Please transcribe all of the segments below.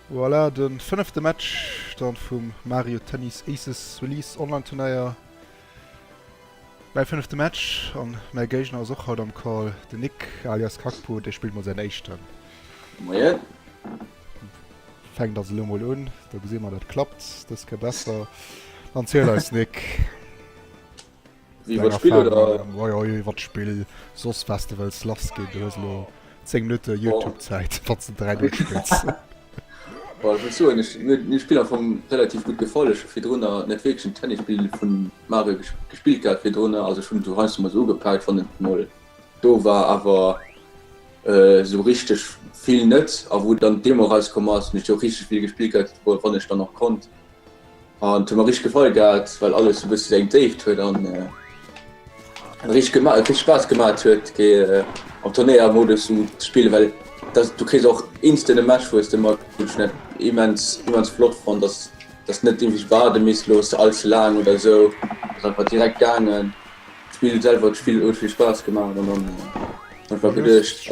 Voilà, de fënnefte Match dann vum Mario Tennis Aces Release Online Turnéier. Mäi fënnefte Match an mäi Géigner ass och haut am Call de Nick alias Kakpo, dee spillt mol säin éischten. Moien. Fänkt also lo mol un, da gesi mer dat klappt, dës ke besser. Dann ziel eis Nick. Wéi wat Spill oder? Oi oi wat Spill soss was de wëlls lass ginn du hues lo 10 Minutte Youtube Zäit wat ze 3 Null spills. Boah, ich muss soen, ich, mir, mir Spiel am Fong relativ gut gefallen. Ich habe für drunter nicht wirklich ein Tennisspiel von Mario ges gespielt gehabt für drunter. Also schon so heißt mal so gepackt von den Moll. Do war aber äh, so richtig viel net, a wo dann Demo rauskom ass, mech jo richtig Spiel gespielt huet, wo wann ech dann noch konnt. An et huet mer richteg gefall gehat, well alles e bësse seng Déift huet an richteg Spaass gemat huet, fir am Turnéiermodus ze spillen, well du kriss och instant e Match, wou s de mat net immens flott fonnt, datt du net iergendwéi waarde misst loossen, all ze laang oder esou. Ass einfach direkt gaangen. D'Spill selwer, d'Spill huet vill Spaass gemaach an dann einfach geduecht.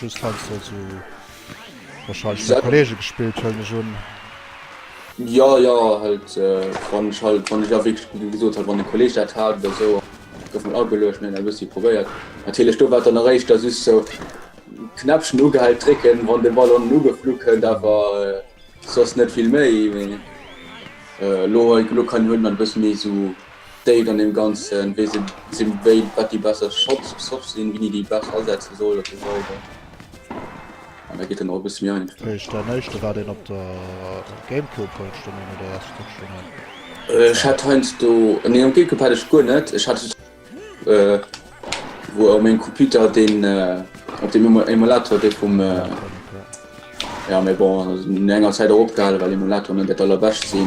Just heinsdo soll se wahrscheinlech mat Kollege gespillt hëllen ech un. Jo jo halt wann ech halt wann ech awegs gesot hat wann de Kolleg dat hat oder sou gouf mat ageluecht an hunn dat e bëssi probéiert. Natierlech do war dann nach éischter just sou Knäppchen ugehal drécken wann de Ball onnen ugeflu kënnt awer soss net vill méi mee elo hei elo kann hunn mer e bësse méi sou. Date an deem Ganzen, wéi se si, wéi wat déi besser Shots soft sinn, wéini déi besser asetze soll a sou weider. An da geet en och e bësse méi einfach. Wéi ech däin éischte war deen op der Gamecube hues du méi no der erste Kuerz scho méi. Ech hat heiansdo, nee um Gamecube hat ech guer net, ech hat wou op mengem Computer deen op dem Emulator dee vum ja mee bon no enger Zäit och opgehale well Emulatoren net dat allerbescht sinn.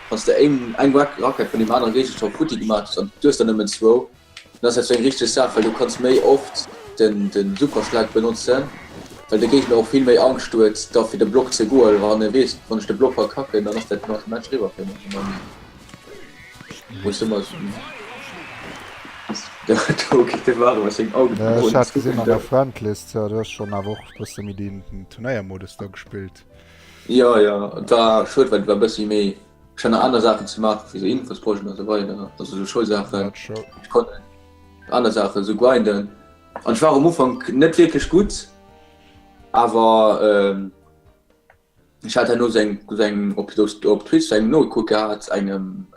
Wanns de éng eng Rackett vun deem anere Géigestand futti gemaach hues, an du hues der nëmmen zwou, dann ass dat zwéng richteg Saach, well du kanns méi oft de Superschlag benotzen, well de Géigner och vill méi Angscht huet da fir de Block ze goen, wann e weess, wann ech de Block verkacken, dann ass dat no dem Match eriwwer fir mech a meng Meenung. Jo jo et war schued well et war bessi méi ech hat nach aner Saachen ze maachen wéi sou Infosprojechten an sou weider also sou Schoulsaachen ech konnt aner Saachen sou grinden an ech war och am Ufank net wierklech gutt awer ech hat herno sou eng sou eng op Twitch sou eng nogeku gehat engem.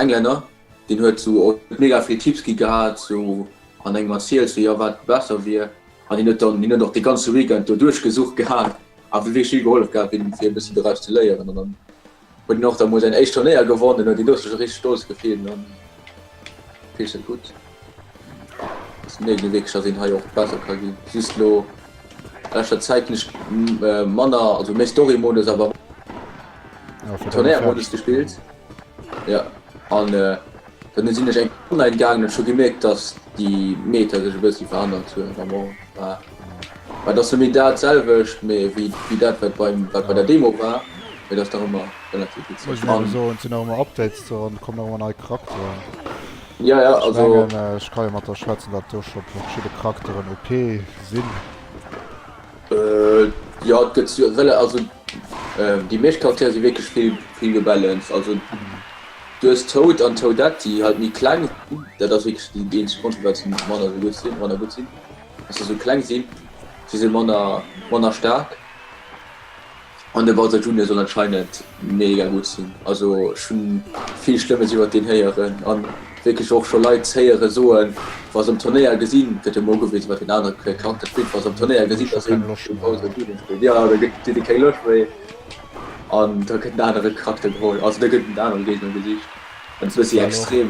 Englänner, deen huet sou och mega vill Tipps gi gehat, sou an engem erzielt sou jo wat besser wier, an hien huet dann, hien huet och de ganze Weekend do duerchgesucht gehat a wier wierklech vill gehollef gehat fir e bëssi doraus ze léieren an dann huet hien och da mol säin éischt Turnéier gewonn, den huet hien do sech och richteg stolz gefillt. Peche gutt. Nee, déi Weekecher sinn hei och besser ka ginn. Just lo leschter Zäit hunn ech manner, also méi Story-Modus, awer Turnéier-Modus gespillt. Ja, an dann sinn ech eng Online gaangen an ech hu gemierkt, datt déi Meter sech e bëssi verännert hunn. Et ass jo méi dat selwecht wéi dat wat bei der Demo war, mee et ass nach ëmmer relativ witzeg an. Sinn nach ëmmer Updates dran, kommen nach ëmmer nei Charakteren. Jo jo also. Ech mengen ech ka jo mat der schwätzen datt do scho verschidde Charakteren OP sinn. Jo et gëtt jo also déi meescht Charaktere si wierklech vill gebalanced. Also du hues Toad an Toadette déi halt méi kleng sinn, dat ass wierklech déi eenzeg Grond firwat se manner gutt sinn. Wa se esou kleng sinn, si se manner staark. An de Bowser Junior soll anscheinend mega gutt sinn. Also ech hu vill Schlëmmes iwwert deen héieren a wierklech och scho Leit héiere soen, wa se um Turnéier gesinn, gëtt jo emol ugewisen, wat deen anere Charakter spillt, wa se um Turnéier gesinn, datt een de Bowser Junior spillt, jo, da kritt ee keng Loscht méi an da gëtt en anere Charakter geholl, also da gëtt en anere Géigner gesicht an et ass e bëssi extrem.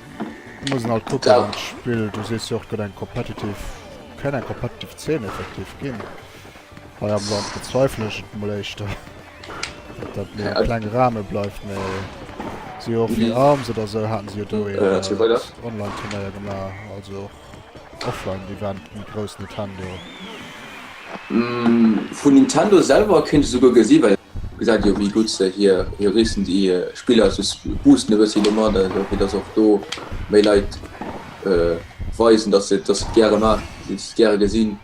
Muss en alt kucken an d'Spill. Du sees jo och gëtt eng competitive, kenn eng competitive Zeen effektiv ginn hei am Land, bezweifelen ech et mol éischter datt dat méi e klenge Rahme bleift, mee si jo och fir Arms oder sou haten si jo do een Online-Turnéier gemaach, also och. Offline Event méi grouss Nintendo. Vun Nintendo selwer kéint ee souguer gesi well gesait jo wéi gutt se hier hier recent Spiller sou boosten e bëssi domat also fir dass och do méi Leit weisen dass se et dass se et gäre maachen dass se et gäre gesinn.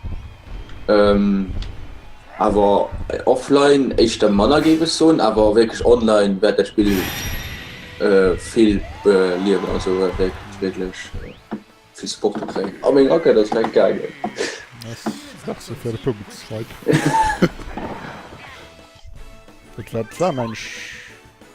Awer offline éischter manner géif ech soen, awer wierklech online wäert dat Spill vill beliewen, also wäert wierklech vill Supporter kréien. A meng Rackett ass direkt gaangen. Merci fir de Punkt, Mike. Et war d'Waan eng.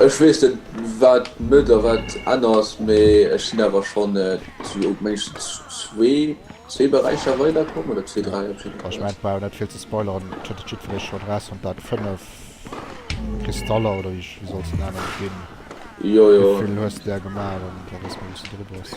Ech wees net waat net a waat enners, mee ech sin awer schon zu op mengschtens zwee zwee Beräicher weider komm oder zwee dräi op jidden Fall. Ech mengen brauch net vill ze spoileren, et huet et jiddfereech schon eraus fonnt, daat 5 Kristaller oder wéi soll se nennen gin, wéivill hues de där gemaach, an daat ass mol bis do drop ass.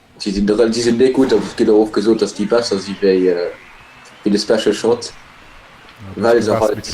Si sinn der, si sinn déi gutt, et gëtt och oft gesot, datt déi besser si wéi de Special Shot, well se halt.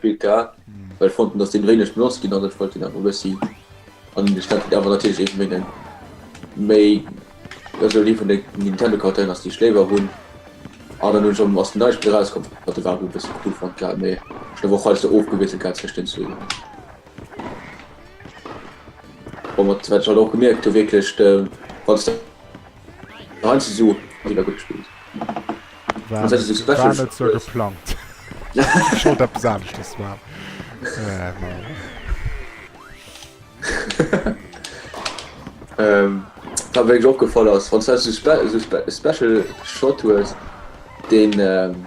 Pika, well ech fanden dass deen wéineg benotzt ginn ass, ech wollt deen awer e bëssi an de Stand kritt, awer natierlech ee vun deenen méi esou dee vun de Nintendo-Charakteren ass déi ech léiwer hunn. An dann hunn ech am ass den neie Spill erauskomm, wat de Wabu e bësse cool fonnt gehat, mee ech hunn awer och hei sou ofgewiesselt gehat zwëscht den zwee. Bon, wat wat ech halt och gemierkt hu wierklech de, wann s de. Nein, sie so wieder gut gespielt. War, also, so war net so geplant. Scho dat besanecht das war. Äh, ähm, da wé och gefall ass Franz Special Shot hues den. Ähm,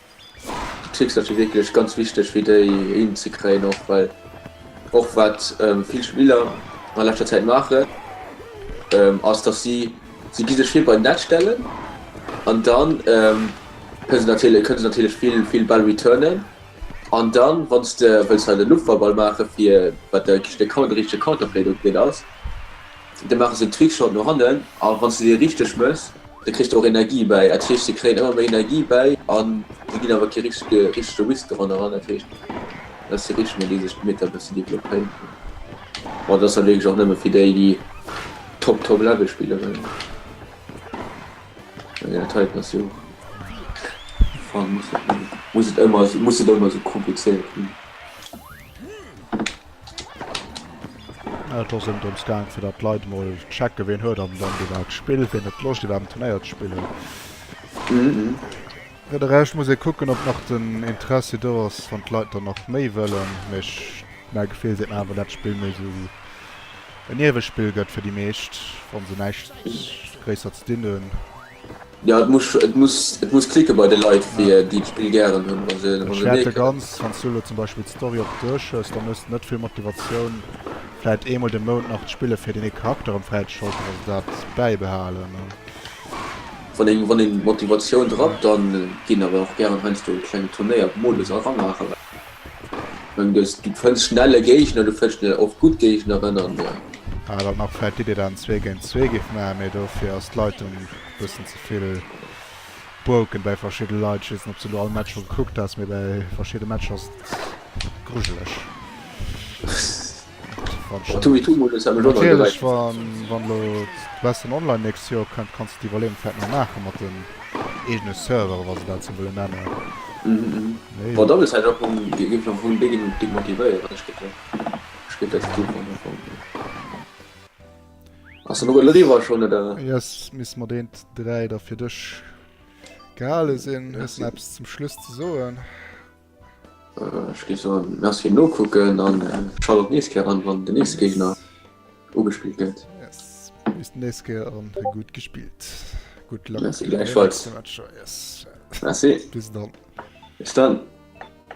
D'Schléckser si wierklech ganz wichteg fir déi hinzekréien och, well och wat vill Spiller a leschter Zäit maachen, ass datt si, si gi sech vir bei d'Netz stellen an da kënne se natierlech, kënne se natierlech vill, vill Bäll returnen an da wann s de wëlls hei de Luftballball maache fir wat de richtege Coun-, de richtege Counterplay do deen ass, da maache se Trickshot no hannen a wann s de dee richteg méchs, Da kritt e och Energie bäi. Dat heescht, si kréien ëmmer méi Energie bäi a si ginn awer kee richtege richtege Whisk doran eran. Dat heescht, dat si Rhythme, déi sech d'Meter e bëssen developpéiert hunn. Mä et ass da wierklech och nëmme fir déi, déi top, top Level spille wëllen. An enger Taille passi och. Muss et ëmmer, muss et ëmmer esou komplizéiert ginn? Et ass ëm drëms gaang, fir datt d'Leit emol checken, wien huet am Land iwwerhaapt d'Spill, wien huet Loscht iwwerhaapt am Turnéier ze spillen. Fir de Rescht muss ee kucken, ob nach den Interessi do ass, wann d'Leit dann nach méi wëllen. Mee mäi Gefill seet mer awer, dat d'Spill méi esou en Niewespill gëtt fir déi meescht, wa se näischt gréisser ze dinn hunn. Jo et muss et muss et muss klicken bei de Leit fir Ja. déi d'Spill gären hunn wann se wann Ech se hätt nee de kënnen. ganz, wanns du elo zum Beispill d'Story op duerch hues, dann hues de net vill Motivatioun vläit eemol de Mount nach d'Spille fir deen ee Charakter erëm fräizeschalten, wanns de dat bäibehalen an. Wann een wann een d'Motivatioun drappt, dann ginn awer och gären heiansdo kleng Turnéier Modus eran maachen. Du fënns schnell e Géigner, du fënns schnell och gutt Géigneren an. Ah dann nach vläit déi déi dann zwee géint zwee giff maachen, mee dofir ass d'Leitung bëssen zevill broken bäi verschidde Leit. Ech weess net ob s de lo all Match scho gekuckt has, mee bäi verschidde Matcher ass et grujeleg. Natierlech wann elo d'Western Online d'nächst Joer kënnt, kanns de d'Iwwerleeung vläit nach maachen mat den eegene Serveren, wa se dat esou wëllen nennen. Yes, misst mat eent dräi da fir dech gehale sinn. Hues de nach eppes zum Schluss ze soen? Ech géif soen merci fir d'Nokucken an schalte och nächst Kéier an wann den nächste Géigner ugespillt gëtt. Yes, bis den nächst Kéier an gudd gespillt. Good luck. Merci gläichfalls. Merci. Bis dann. Bis dann.